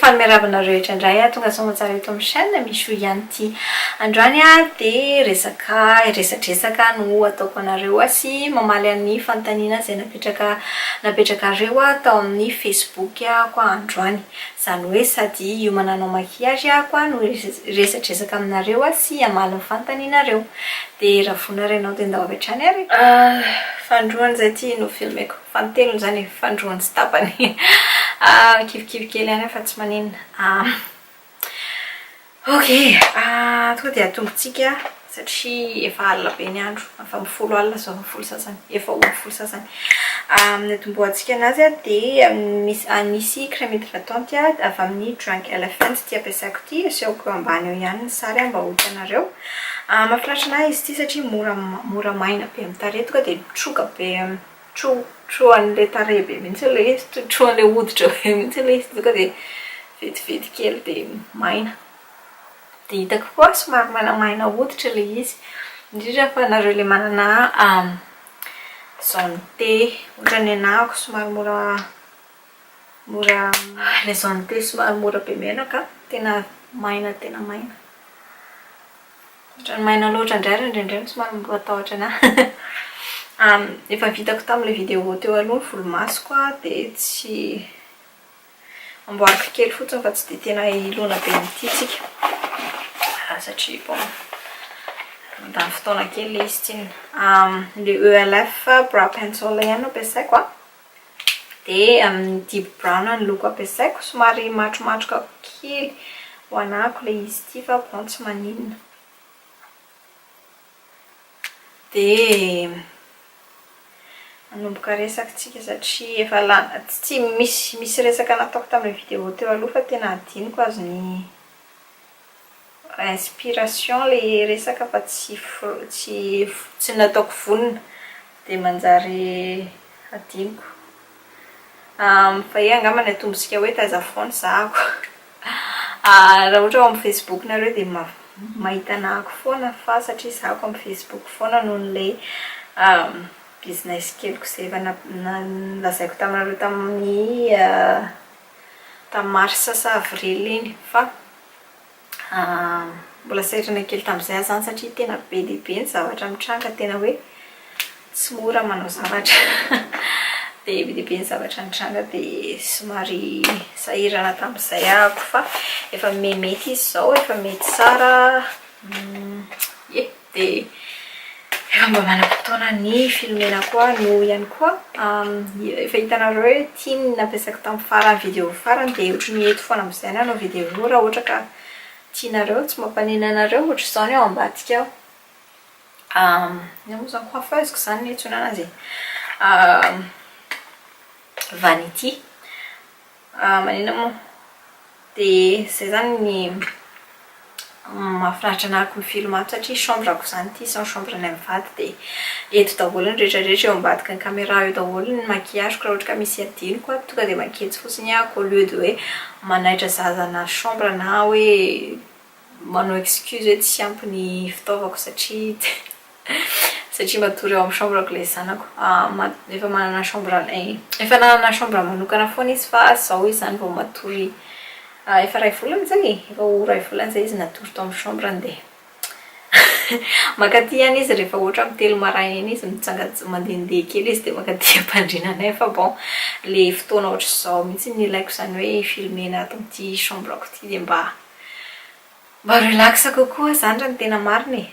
Faly miarahaba anareo rehetra indray a! Tonga soa aman-tsara eto amin'ny chaîne Michou Yanti. Androany dia resaka resadresaka no ataoko anareo sy mamaly an'ny fanontaniana izay napetraka napetrakareo tao amin'ny Facebook ko aho androany. Izany hoe sady hiomana hanao maquillage aho no hiresadresaka aminareo sy hamaly ny fanontanianareo. Dia raha vonona ary ianao dia ndao avy hatrany ary e! Fa androany izay ity no filmeko. Fa ny teniny izany efa fandroany tsy tapany. Kivikivy kely ihany aho fa tsy maninona. Ok, tonga dia atombontsika satria efa alina be ny andro. Efa amin'ny folo alina izao na folo sasany, efa ho amin'ny folo sasany. Ny atombohantsika an'azy dia misy crème hydratante avy amin'ny Drunk Elephant ity ampiasako ity. Asehoko eo ambany eo ihany ny sary mba ho hitanareo. Mahafinaritra ny ahy izy ity satria mora maina be amin'ny tarehy, tonga dia mitroka be. tro tro an'ilay tarehy be mihitsy ilay izy, tro tro an'ilay hoditra be mihitsy ilay izy tonga dia vetivety kely dia maina. Dia hitako koa fa somary mainamaina hoditra ilay izy. Indrindra fa ianareo ilay manana zone T ohatran'ny anah ako somary mora mora ilay zone T somary mora be menaka tena maina tena maina. Ohatran'ny maina loatra indray ary indraindray somary mirotahatra anah. Efa vitako tamin'ilay vidéo teo aloha ny volomasoko dia tsy, amboariko kely fotsiny fa tsy dia tena hilona be amin'ity tsika satria bon mandany fotoana kely ilay izy tsinona. Ilay ELF brow pencil ihany no ampiasaiko an. Dia amin'ity brown ny loko ampiasaiko, somary matromatroka kely ho anako ilay izy ity fa bon tsy maninona. Dia manomboka resaka isika satria efa lany, tsy misy resaka nataoko tamin'ilay vidéo teo aloha fa tena hadinoko azy ny Inspiration le resaka fa tsy tsy tsy nataoko vonona dia manjary adinoko. Fa he angamba ny atombontsika hoe taiza foana zahako. Raha ohatra ao amin'ny facebook nareo dia mahita anah ako foana fa satria za ako amin'ny facebook foana noho ilay business keliko izay efa nolazaiko taminareo tamin'ny tamin'ny marsa sa avril iny fa mbola sahirana kely tamin'izay aho izany satria tena be dia be ny zavatra mitranga tena hoe tsy mora manao zavatra dia be dia be ny zavatra nitranga dia somary sahirana tamin'izay ahako fa efa mihamety izy izao efa mety tsara ye Dia efa mba manam-potoana ny filomena koa no ihany koa efa hitanareo hoe ity ny nampiasako tamin'ny farany video farany dia ohatry ny eto foana amin'izay nanao video io raha ohatra ka tianareo tsy mampanena anareo ohatry izao ny ao ambadika ao inona moa izany coiffeuse ko izany ny antsoina anazy e vanity Ah manina moa? Dia izay izany ny mahafinaritra ny araka ny film ato satria chambre ko izany ity sao chambre ny mivady dia eto daholo ny rehetra rehetra eo ambadiky ny camera eo daholo ny maquillage ko raha ohatra ka misy adinoko ato tonga dia maketsy fotsiny aho ko au lieu de hoe manaitra zaza na chambre na hoe Manao excuse hoe tsy ampy ny fitaovako satria satria matory ao amin'ny chambre-ko ilay zanako. Efa manana chambre, efa nanana chambre manokana foana izy fa izao izy izany vao matory efa iray volana izay e! efa ho iray volana izay izy natory tao amin'ny chambre-ny dia mankaty ihany izy rehefa ohatra amin'ny telo maraina iny izy mitsangats- mandehandeha kely izy dia mankaty am-pandriana anay fa bon ilay fotoana ohatr'izao mihitsy no ilaiko izany hoe hi-filmer-na ato amin'ity chambre-ko ity dia mba Mba relax kokoa zany raha ny tena marina e!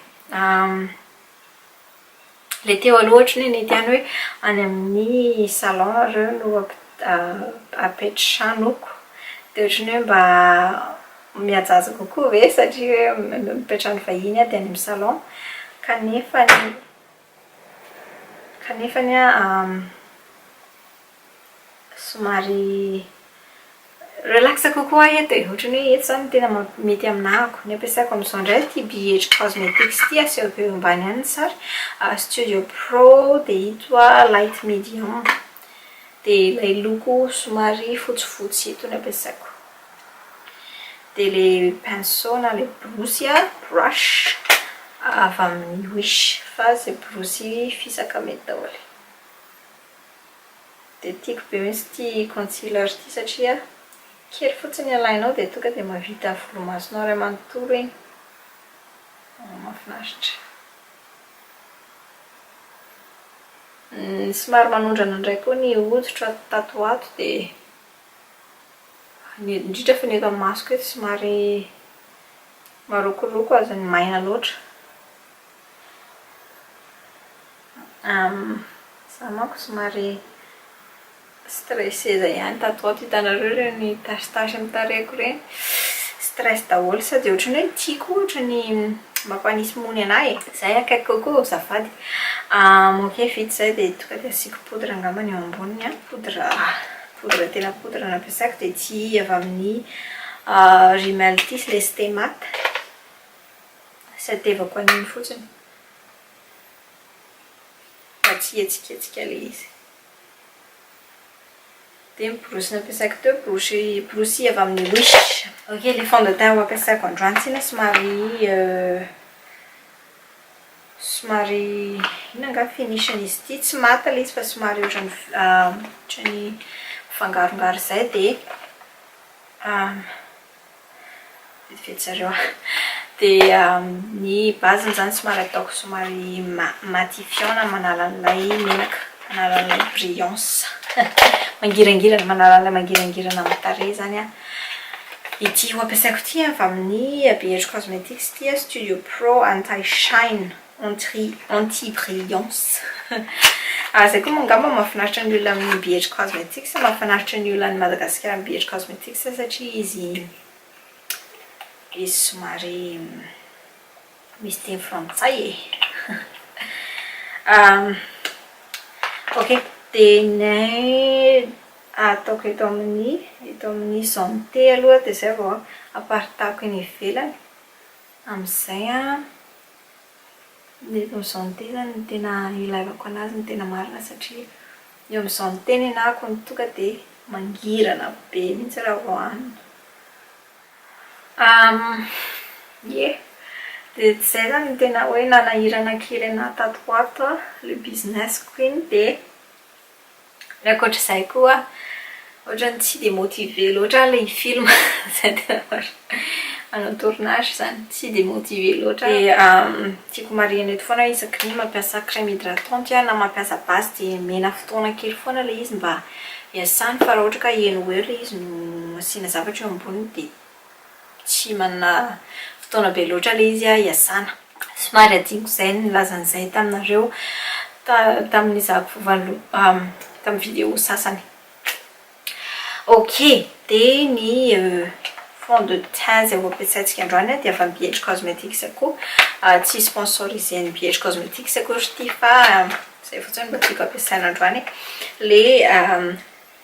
Ilay teo aloha ohatry ny hoe nety ihany hoe any amin'ny salon nareo no apetrahanoko, dia ohatry ny hoe mba mihajahaja kokoa ve satria hoe mipetrahan'ny vahiny aho dia any amin'ny salon kanefany, kanefany an. somary relax kokoa aho eto e, ohatran'ny hoe eto izany no tena mety amin'ahako. Ny ampiasako amin'izao indray ity BH Cosmetics ity, asehoko eo ambany any ny sary, Studio Pro dia ito aho Light Medium. Dia ilay loko somary fotsifotsy ito no ampiasaiko. Dia ilay pinceau na ilay borosy an, brush, avy amin'ny Wish fa izay borosy fisaka mety daholo. Dia tiako be mintsy ity concealer ity satria kely fotsiny alainao dia tonga dia mahavita volomasonao iray manontolo iny. Mahafinaritra. Ny somary manondrana indray koa ny hoditro ato tato ho ato dia ny indrindra fa ny eto amin'ny masoko eto somary marokoroko azon'ny maina loatra. Izaho manko somary stressée izay ihany. Tato ho ato hitanareo ireny tasitasy amin'ny tarehiko ireny. Stress daholo sao dia ohatran'ny hoe tiako ohatra ny mampanisy mony anà e. Izay akaiky kokoa azafady. Moke vita izay dia tonga dia asiako poudre angamba ny eo amboniny an. Poudre poudre tena poudre no ampiasaiko dia tsy avy amin'ny rimel ity ilay stemat. Tadiavako an'iny fotsiny mba tsy hihetsiketsika ilay izy. Dia ny borosy nampiasako teo, borosy borosy avy amin'ny Wish. Ok, ilay fond de teint ho ampiasako androany tsinona somary somary inona angaha ny finish-n'n'izy ity? Tsy maty ilay izy fa somary ohatran'ny ohatran'ny mifangarongaro izay dia Vetivety zareo an. Dia ny base-ny izany somary ataoko somary matifiant na manala an'ilay menaka, manala an'ilay brillance. Mangirangirana, manala an'ilay mangirangirana amin'ny tarehy izany an. Ity ho ampiasaiko ity an, avy amin'ny Be Hetry Cosmetics ity an, Studio Pro Anti Shine. Anti anti brillance Zay koa moa angamba mahafinaritra ny olona amin'ny BH Cosmetics, mahafinaritra ny olona any Madagasikara ny BH Cosmetics satria izy izy somary misy teny frantsay e Ok, dia ny ataoko eto amin'ny eto amin'ny santé aloha dia izay vao amparitahaiko eny ivelany, amin'izay an. Dia eo amin'izao ny tena no tena ilaivako an'azy ny tena marina satria eo amin'izao ny tena ianahako ny toaka dia mangirana be mihintsy raha vao hanina. Ie. Dia tsy izay izany no tena hoe nanahirana kely an'ahy tato ho ato an, le business-ko iny dia. Ny ankoatr'izay koa ohatran'ny tsy dia motivé loatra aho ilay film izay tena marina. Manao tournage izany, tsy dia motivé loatra aho. Dia tiako marihina eto foana hoe isaky ny mampiasa crème hydratante aho na mampiasa base dia omena fotoana kely foana ilay izy mba hiasany fa raha ohatra ka heno ho eo ilay izy no asiana zavatra eo amboniny dia Tsy manana fotoana be loatra ilay izy hiasana. Somary hadinoko izay ny nilazany izay taminareo tamin'ny nizahako tamin'ny vidéo sasany. Ok, dia ny fond de teint izay ho ampiasaintsika androany dia avy amin'ny BH Cosmetics koa. Tsy sponsorisé an'i BH Cosmetics akory ity fa izay fotsiny no tiako ampiasaina androany. Ilay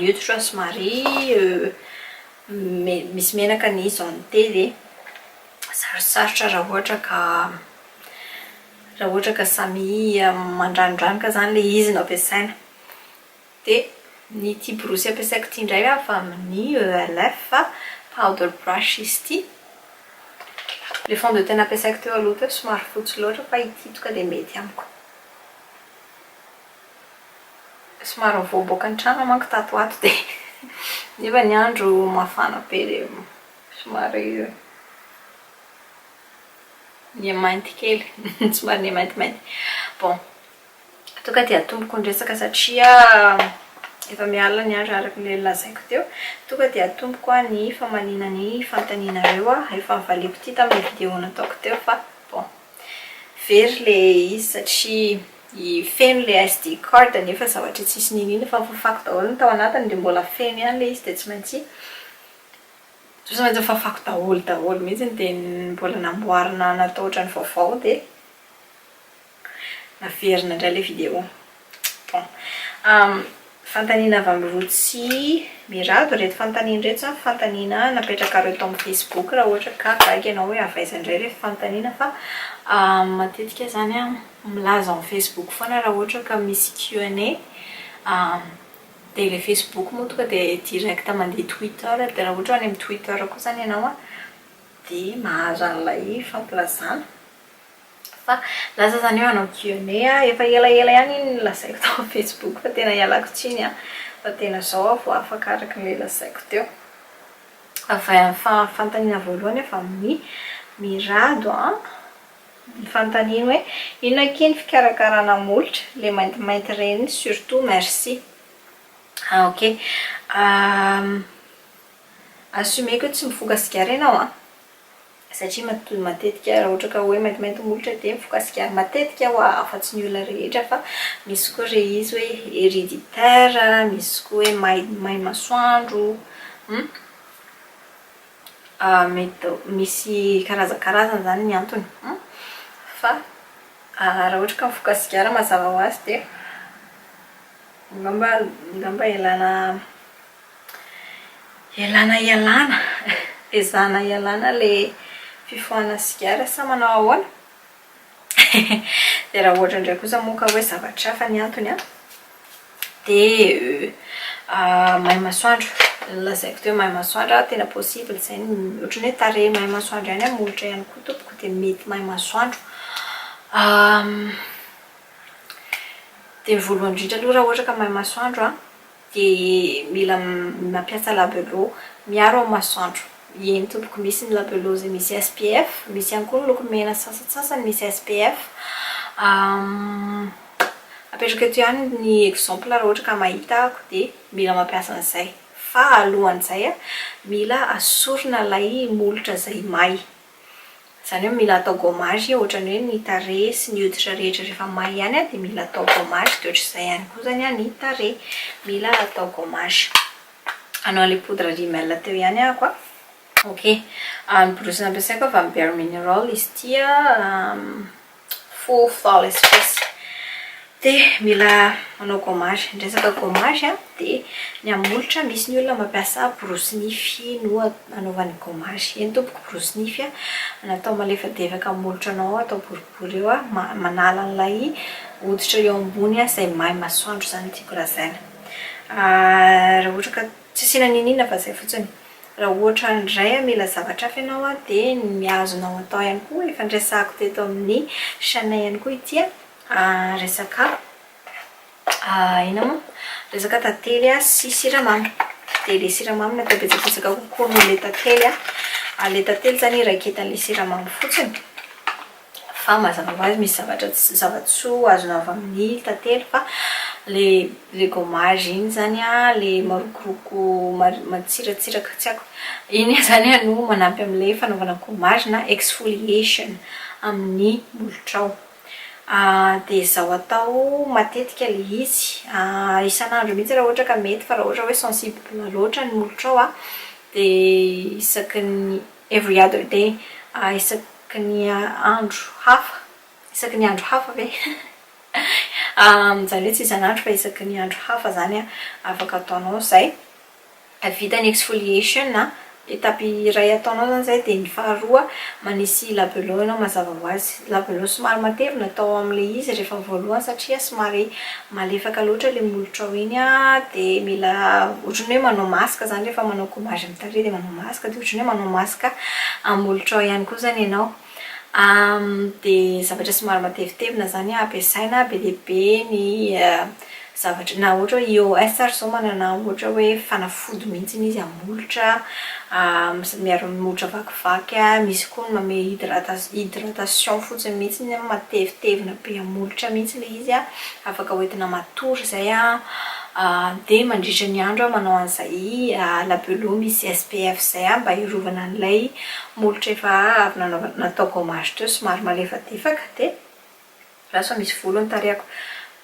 neutre somary misy menaka ny zante dia sarosarotra raha ohatra ka raha ohatra ka samy mandranodranoka izany ilay izy no ampiasaina. Dia ny ity borosy ampiasaiko ity indray avy amin'ny ELF fa powder brush izy ity. Ilay fond de teint nampiasaiko teo aloha teo somary fotsy loatra fa ity tonga dia mety amiko. Somary nivoaboaka ny trano aho manko tato ho ato dia nefa ny andro mafana be dia somary niha-mainty kely, somary niha-maintimainty. Bon, toa ka dia atomboko ny resaka satria efa miha alina ny andro araka ilay lazaiko teo. Toa ka dia atomboko ny famaliana ny fanontanianareo, efa novaliako ity tamin'ilay video nataoko teo fa bon. Very le izy satria i feno le SD card nefa zavatra tsisy niniana fa fafako daholo ny tao anatiny dia mbola feno ihany le izy dia tsy maintsy tsy maintsy fafako daholo daholo mihitsy dia mbola namboarina natao ohatran'ny vaovao dia naverina indray le video. Fanontaniana avy amin'i Rotsy Mirado ireto fanontaniana ireto izany fanontaniana napetrakareo tao amin'ny Facebook raha ohatra ka gaga ianao hoe avy aiza indray ilay fanontaniana fa matetika izany an, milaza ao amin'ny Facebook foana raha ohatra ka misy Q&A. Dia ilay Facebook moa tonga dia direct mandeha Twitter. Dia raha ohatra any amin'ny Twitter koa izany ianao an, dia mahazo an'ilay fampilazana. Fa lasa zany hoe hanao Q&A aho, efa elaela ihany iny nolazaiko tao amin'ny Facebook fa tena ialako tsiny an, fa tena izao aho vao afaka araka ilay lazaiko teo. Avy amin'ny fanontaniana voalohany avy amin'i Mirado an, ny fanontaniany hoe inona akia ny fikarakarana molotra, ilay maintimainty ireny surtout, merci. Ah ok, assumer-ko hoe tsy mifoka sigara ianao an. satria matoa matetika raha ohatra ka hoe maintimainty molotra dia mifokasika matetika hoa afa tsy ny olona rehetra fa misy koa re izy hoe hereditaire misy koa hoe may may masoandro hum ah mety misy karazakarazany zany ny antony hum fa raha ohatra ka mifokasika mazava ho azy dia angamba angamba ialana Ialana ialana, ezahana ialana ilay fifohana sigara sa manao ahoana? Dia raha ohatra indray kosa moa ka hoe zavatra hafa ny antony an, dia may masoandro. Lazaiko teo hoe may masoandro an, tena possible izay ny ohatran'ny hoe tarehy may masoandro ihany amin'ny molotra ihany koa tompoko dia mety may masoandro. Dia ny voalohany indrindra aloha raha ohatra ka may masoandro an, dia mila mampiasa labello miaro amin'ny masoandro, eny tompoko, misy ny labello izay misy SPF, misy ihany koa ny loko mena sasantsasany misy SPF, apetrako eto ihany ny exemple raha ohatra ka mahita ako dia mila mampiasa an'izay, fa alohan'izay mila asorina ilay molotra izay may Izany hoe mila atao gommage e, ohatrany hoe ny tarehy sy ny hoditra rehetra rehefa may ihany an, dia mila atao gommage, dia ohatr'izay ihany koa izany an ny tarehy, mila atao gommage. Hanao an'ilay poudre rimel teo ihany ahako an. Ok. Ny borosy nampiasaiko an, avy amin'ny Bare Mineral izy ity an. Faux faux espèce. Dia mila manao gommage. Ny resaka gommage dia ny amin'ny molotra misy ny olona mampiasa borosy nify no anaovany gommage. Eny tompoko borosy nify natao malefadefaka amin'ny molotranao atao boribory eo manala an'ilay hoditra eo ambony izay may masoandro izany no tiako lazaina. Raha ohatra ka Tsy asiana niniana fa zay fotsiny. Raha ohatra handray hamela zavatra hafa ianao an, dia ny mihazona ao an-tao ihany koa, efa niresahako teto amin'ny chaîne ihany koa ity an, resaka inona moa? resaka tantely sy siramamy. Dia ilay siramamy natao betsabetsaka kokoa noho ilay tantely an, ary ilay tantely izany iraiketan'ilay siramamy fotsiny. Fa mazava ho azy misy zavatra tsy zava-tsoa azona avy amin'ny tantely fa ilay gommage iny izany ilay marokoroko matsiratsiraka tsy haiko iny izany no manampy amin'ilay fanaovana gommage na exfoliation amin'ny molotrao. Dia izao atao matetika ilay izy, isan'andro mihitsy raha ohatra ka mety fa raha ohatra hoe sensible loatra ny molotrao dia isaky ny Every other day, isaky ny andro hafa, isaky ny andro hafa ve? izany hoe tsy isan'andro fa isaky ny andro hafa izany afaka ataonao izay. Vita ny exfoliation, étape iray ataonao izany izay dia ny faharoa manisy labello ianao mazava ho azy. Labello somary matevina tao amin'ilay izy rehefa voalohany satria somary malefaka loatra ilay molotrao iny dia mila ohatran'ny hoe manao masque izany rehefa manao gommage amin'ny tarehy dia manao masque dia ohatran'ny hoe manao masque amin'ny molotrao ihany koa izany ianao. Dia zavatra somary matevitevina izany ampiasaina be dia be ny zavatra na ohatra hoe ios ary zao manana ohatra hoe fanafody mihitsy izy hamolotra miaro amin'ny molotra vakivaky a, misy koa ny manome hydrata- hydratation fotsiny mihitsy an, matevitevina be hamolotra mihitsy ilay izy an, afaka hoentina matory izay an, dia mandritra ny andro aho manao an'izay labello misy SPF izay an, mba hiarovana an'ilay molotra efa avy nanaova- nataoko gommage teo somary malefadefaka dia. Lasa misy volo ny tarehiko.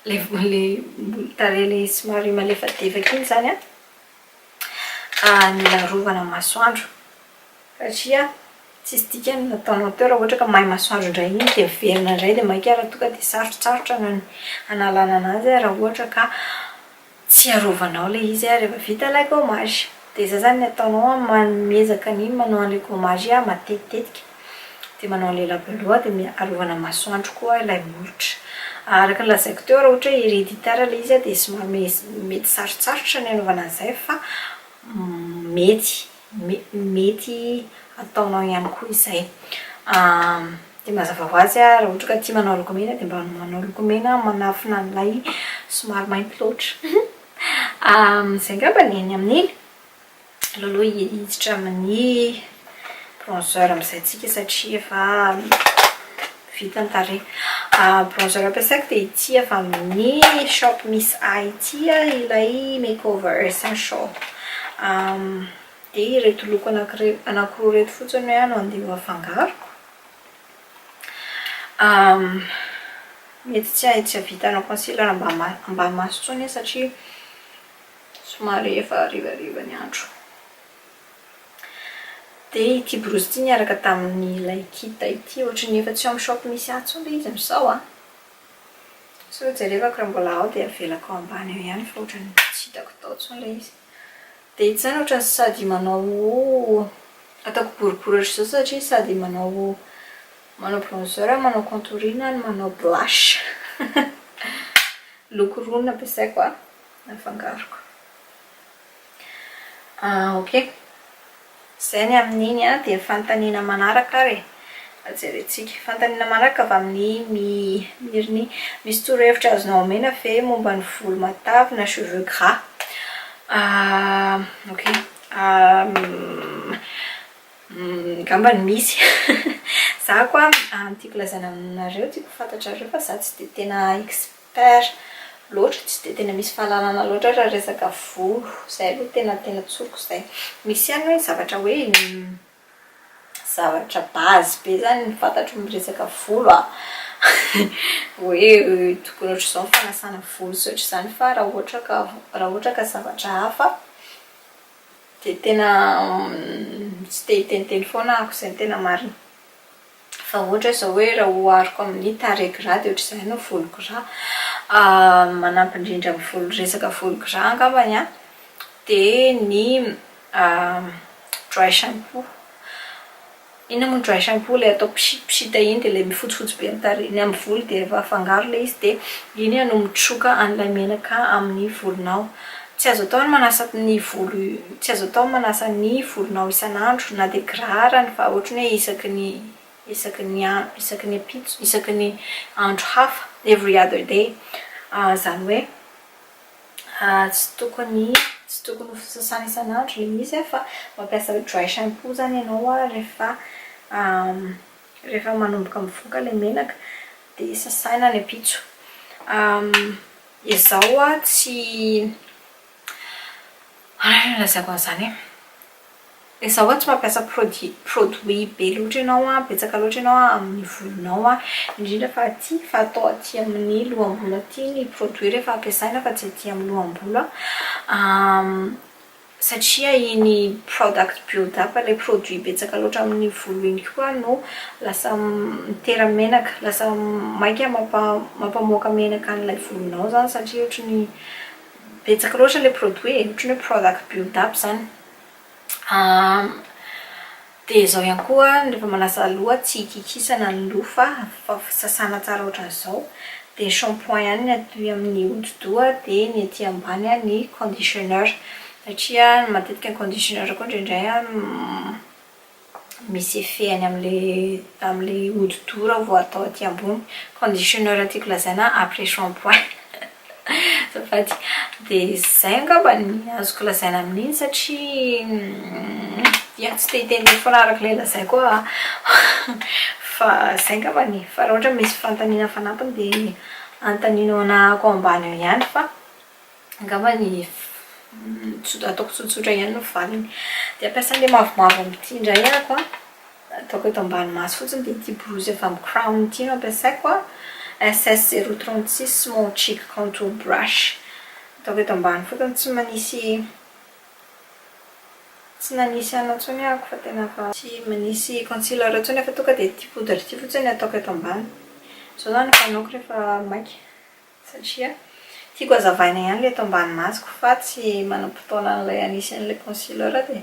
Ilay tarehy ilay somary malefadefaka iny izany an, mila arovana masoandro. Satria tsisy dikany ny nataonao teo raha ohatra ka may masoandro indray iny dia miverina indray dia maika raha toa ka dia sarotsarotra ny hanalana an'azy raha ohatra ka Tsy arovanao ilay izy a, rehefa vita ilay gommage dia izay izany ny ataonao a, ma miezaka ny manao an'ilay gommage a matetitetika, dia manao an'ilay labelua dia mi arovana masoandro koa ilay molotra. Araka ny lazaiko teo raha ohatra hoe hereditaire ilay izy a dia somary mety sarotsarotra ny anaovana an'izay fa mety. mety ataonao ihany koa izay. Dia mazava ho azy raha ohatra ka tia manao lokomena dia mba manao lokomena manafina an'ilay somary mainty loatra. Izay angamba ny eny amin'iny. Aleo aloha hiditra amin'ny bronzer amin'izay tsika satria efa Vita ny tarehy. Bronzer ampiasaiko dia ity avy amin'ny shop Miss A ity ilay makeover essential. Dia ireto loko anankiroa ireto fotsiny no andeha ho afangaroko. Mety tsy hahavita hanao concealer ambanimaso intsony aho satria somary efa harivariva ny andro. Dia ity borosy ity niaraka tamin'ilay kida ity, ohatry ny efa tsy ao amin'ny shop misy ahy intsony ilay izy amin'izao an! Sao jerevako raha mbola ao dia avelako ao ambany ao ihany fa ohatry ny tsy hitako tao intsony ilay izy. Dia ity izany ohatry ny sady manao, ataoko boribory ohatry izao satria sady manao manao bronzer aho, manao contouring aho no manao blush. Loko roa no nampiasaiko an, nafangaroko. Ah ok. Izay ny amin'iny an, dia ny fanontaniana manaraka ary e. Mba jerentsika. Fanontaniana manaraka avy amin'i My Mirnie. Misy torohevitra azonao omena ve momba ny volo matavy na cheveux gras? Ah ok. Angambany misy. Izaho koa an, ny tiako lazaina aminareo, tiako ho fantatrareo fa izaho tsy dia tena expert Père, loatra tsy dia tena misy fahalalana loatra raha resaka volo, izay aloha tena tena tsoriko izay. Misy ihany hoe ny zavatra hoe zavatra base be izany ny fantatro miresaka volo a, hoe tokony ohatr'izao ny fanasana volo sy ohatr'izany fa raha ohatra ka raha ohatra ka zavatra hafa dia tena tsy te hiteniteny foana aho, izay no tena marina. Fa ohatra zao hoe raha ohariko amin'ny tarehiko ra de ohatr'izay no voloko ra, manampy indrindra amin'ny resaka voloko ra angambany an, dia ny dry shampoo. Inona moa ny dry shampoo? Ilay atao pchit pchit iny dia ilay mifotsifotsy be ny tarehy, ny amin'ny volo dia efa afangaro ilay izy dia iny no mitroka an'ilay menaka amin'ny volonao. Tsy azo atao ny manasa ny volo tsy azo atao ny manasa ny volonao isan'andro na dia girarany fa ohatry ny hoe isaky ny isaky ny isaky ny ampitso isaky ny andro hafa every other day izany hoe tsy tokony tsy tokony ho sasana isan'andro ilay izy fa mampiasa dry shampoo izany ianao rehefa rehefa manomboka mivoaka ilay menaka dia sasana any ampitso Izaho a tsy ahoana no hilazako an'izany e? Izaho a tsy mampiasa produit produit be loatra ianao a, betsaka loatra ianao a, amin'ny volonao a, indrindra fa aty fa atao aty amin'ny loham-bolo aty ny produit rehefa ampiasaina fa tsy aty amin'ny loham-bolo a. satria iny product build-up, ilay produit betsaka loatra amin'ny volo iny koa no lasa mitera-menaka, lasa maika mampamoaka menaka an'ilay volonao izany satria ohatra ny betsaka loatra ilay produit e, ohatra ny hoe product build-up izany. Dia izao ihany koa rehefa manasa loha tsy hikikisana ny loha fa fa sasana tsara ohatran'izao. Dia shampoing ihany ny aty amin'ny hodi-doha dia ny aty ambany ny conditioner. Satria matetika ny conditioner koa indraindray misy effet any amin'ilay amin'ilay hodi-doha raha vao atao aty ambony. Conditioner tiako lazaina après shampoing. Azafady. Dia izay angamba ny azoko lazaina amin'iny satria ia, tsy te-hiteny be foana araka ilay lazaiko aho. Fa izay angambany e. Fa raha ohatra misy fanontaniana fanampiny dia anontanino anahako ao ambany ao ihany fa angambany ataoko tsotsotra ihany ny valiny. Dia hampiasa an'ilay mavomavo amin'ity indray ahako an. Ataoko eto ambany maso fotsiny dia ity borosy avy amin'ny Crown ity no ampiasaiko a, SS zéro trente six small cheek contour brush. Ataoko eto ambany fotsiny tsy manisy tsy nanisy anona intsony aho fa tena efa tsy manisy concealer intsony aho fa tonga dia ity poudre ity fotsiny no ataoko eto ambany. Izao izany no fanaoko rehefa maika satria tiako hazavaina ihany ilay eto ambany masoko fa tsy manam-potoana an'ilay hanisy an'ilay concealer dia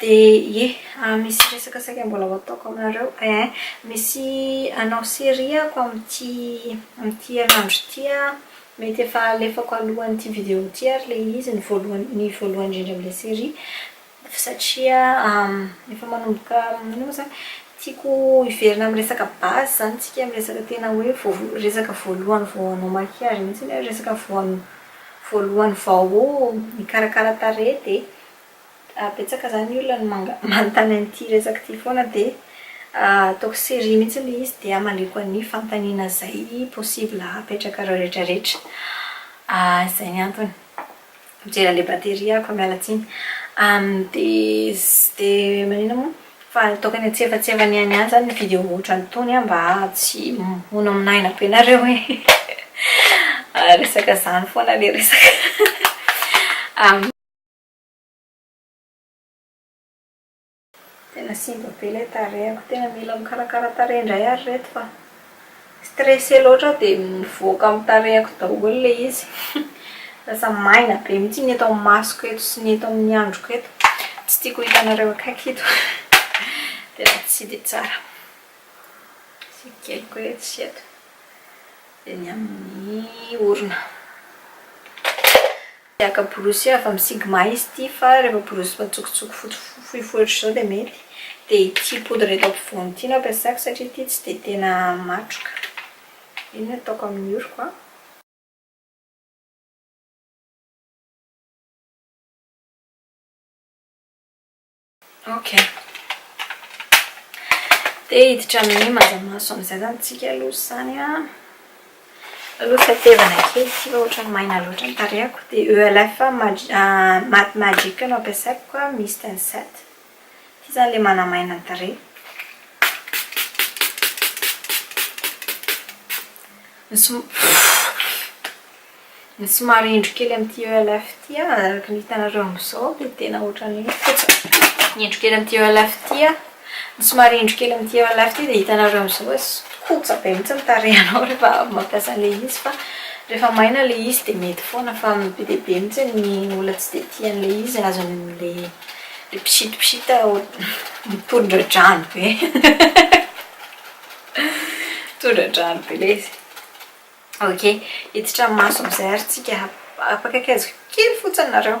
Dia ie, ah misy resaka saika mbola ho ataoko aminareo eh. Misy hanao série aho amin'ity amin'ity herinandro ity an. Mety efa alefako alohan'ity video ity ary ilay izy, ny voalohany ny voalohany indrindra amin'ilay série. Satria efa manomboka inona moa izany? Tiako hiverina amin'ny resaka base izany isika, amin'ny resaka tena hoe voa- resaka voalohany vao hanao maquillage mihitsy ny hoe resaka voan- voalohany vao mikarakara tarehy dia. Betsaka zany ny olona no manga manontany an'ity resaka ity foana dia ataoko série mihitsy ilay izy dia hamaliako an'ny fanontaniana izay possible hapetraka ireo rehetra rehetra. Izay ny antony. Mijery an'ilay batterie aho koa miala tsiny. Dia dia maninona moa? Fa ataoko any antsefatsefany ihany ihany izany ny vidéo ohatran'itony mba tsy ho nominaina be nareo e. Resaka izany foana ilay resaka. Tena simba be ilay tarehiko, tena mila mikarakara tarehy indray ary ireto fa stressé loatra aho dia mivoaka amin'ny tarehiko daholo ilay izy lasa maina be mihitsy ny eto amin'ny masoko eto sy ny eto amin'ny androko eto, tsy tiako ho hitanareo akaiky ito tena tsy dia tsara, asiako kely koa etsy sy eto dia ny amin'ny orona. Maka borosy avy amin'ny sigma izy ity fa rehefa borosy matsokotsoky fohifohy ohatr'izao dia mety. Dia ity poudre eto ampovoany ity no ampiasako satria ity tsy dia tena matroka. Iny no ataoko amin'ny oroko an. Ok. Dia hiditra amin'ny maza-maso amin'izay izany isika aloha izany an. Aloha tetevana kely ity fa ohatran'ny maina loatra ny tarehako. Dia ELF Matte Magic no ampiasaiko ka Mist and Set. Ity izany ilay manamaina ny tarehy. Ny som... Ny somary indro kely amin'ity ELF ity an, araka ny hitanareo amin'izao dia tena ohatran'ny hoe fotsiny. Indro kely amin'ity ELF ity an, ny somary indro kely amin'ity ELF ity dia hitanareo amin'izao hoe kotsa be mihitsy ny tarehinao rehefa avy mampiasa an'ilay izy fa rehefa maina ilay izy dia mety foana fa be dia be mihitsy ny olona tsy dia tia an'ilay izy azony amin'ilay mpisintosita mitondra-drano be. Mitondra-drano be ilay izy. Ok, hiditra maso amizay ary tsika, apakaikaizo kely fotsiny nareo.